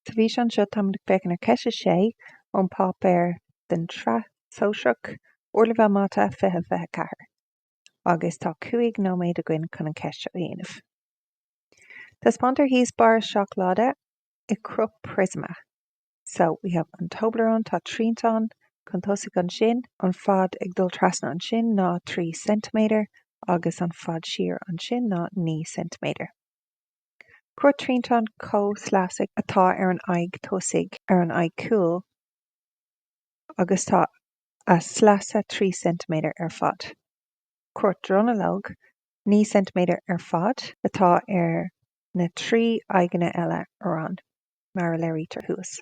Sa bhfíseán seo, táimid ag féachaint ar cheist a sé ón bpáipéar den tSraith Shóisearach, Ardleibhéal Mata 2024, agus tá cúig nóiméad againn chun an cheist seo a dhéanamh. Taispeántar thíos barra seacláide i gcruth priosma. So, we have an Toblerone, tá triantán chun tosaigh ansin, an fad ag dul trasna ansin ná trí ceintiméadar agus an fad siar ansin ná naoi ceintiméadar. Cruth triantáin chomhshleasaigh atá ar an aghaidh tosaigh, ar an aghaidh chúil agus tá a sleasa 3 ceintiméadar ar fad. Cruth dronuilleoige, 9 ceintiméadar ar fad, atá ar na trí aghaidheanna eile araon, mar a léirítear thuas.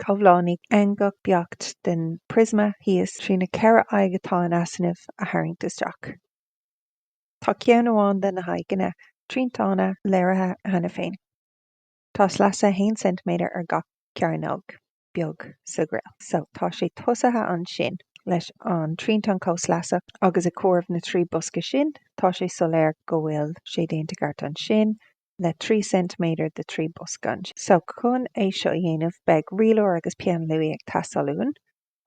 Comhlánaigh eangach beacht den phriosma thíos trí na ceithre aghaidh atá in easnamh a tharraingt isteach. Tá ceann amháin de na haghaidheanna triantána léirithe cheana féin. Tá sleasa 1 ceintiméadar ar gach cearnóg beag sa ghreille. So tá sé tosaithe ansin leis an triantán comhshleasach agus ag comhaireamh na trí bosca sin tá sé soiléir go bhfuil sé déanta i gceart ansin le 3 ceintiméadar de 3 bosca ansin. So chun é seo a dhéanamh beidh rialóir agus peann luaidhe ag teastáil uainn.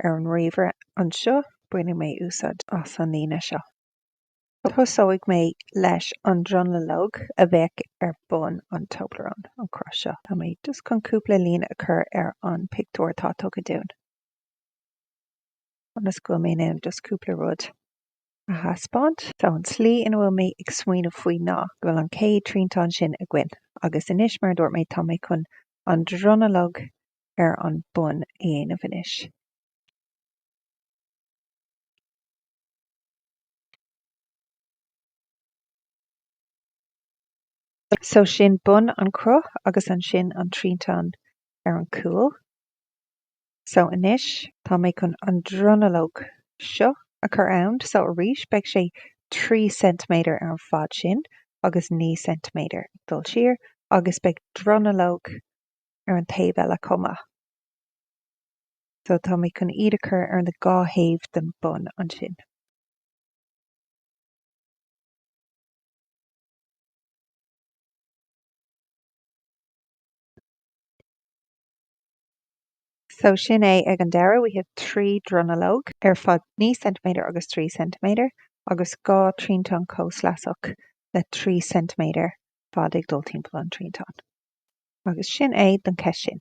Ar an ríomhaire anseo bainfidh mé úsáid as an líne seo. Tosóidh mé leis an dronuilleog a bheidh ar bun an Toblerone, an cruth seo, tá mé, just chun cúpla líne a chur ar an pictiúr atá tugtha dúinn, ionas go bhfuil mé in ann just cúpla rud a thaispeáint. So, an tslí ina bhfuil mé ag smaoineamh faoi ná, go bhfuil an chéad triantán sin againn, agus anois, mar a dúirt mé, tá mé chun an dronuilleog ar an bun a dhéanamh anois. So sin bun an chruth agus ansin an triantán ar an cúl. So anois tá mé chun an dronuilleog seo a chur ann. So arís beidh sé trí ceintiméadar ar an fad sin agus naoi ceintiméadar ag dul siar agus beidh dronuilleog ar an taobh eile chomh maith. So tá mé chun iad a chur ar na dhá thaobh den bun ansin. So sin é ag an deireadh, we have trí dronuilleog ar fad naoi ceintiméadar agus trí ceintiméadar agus dhá triantán comhshleasach le trí ceintiméadar fad ag dul timpeall an triantáin. Agus sin é don cheist sin.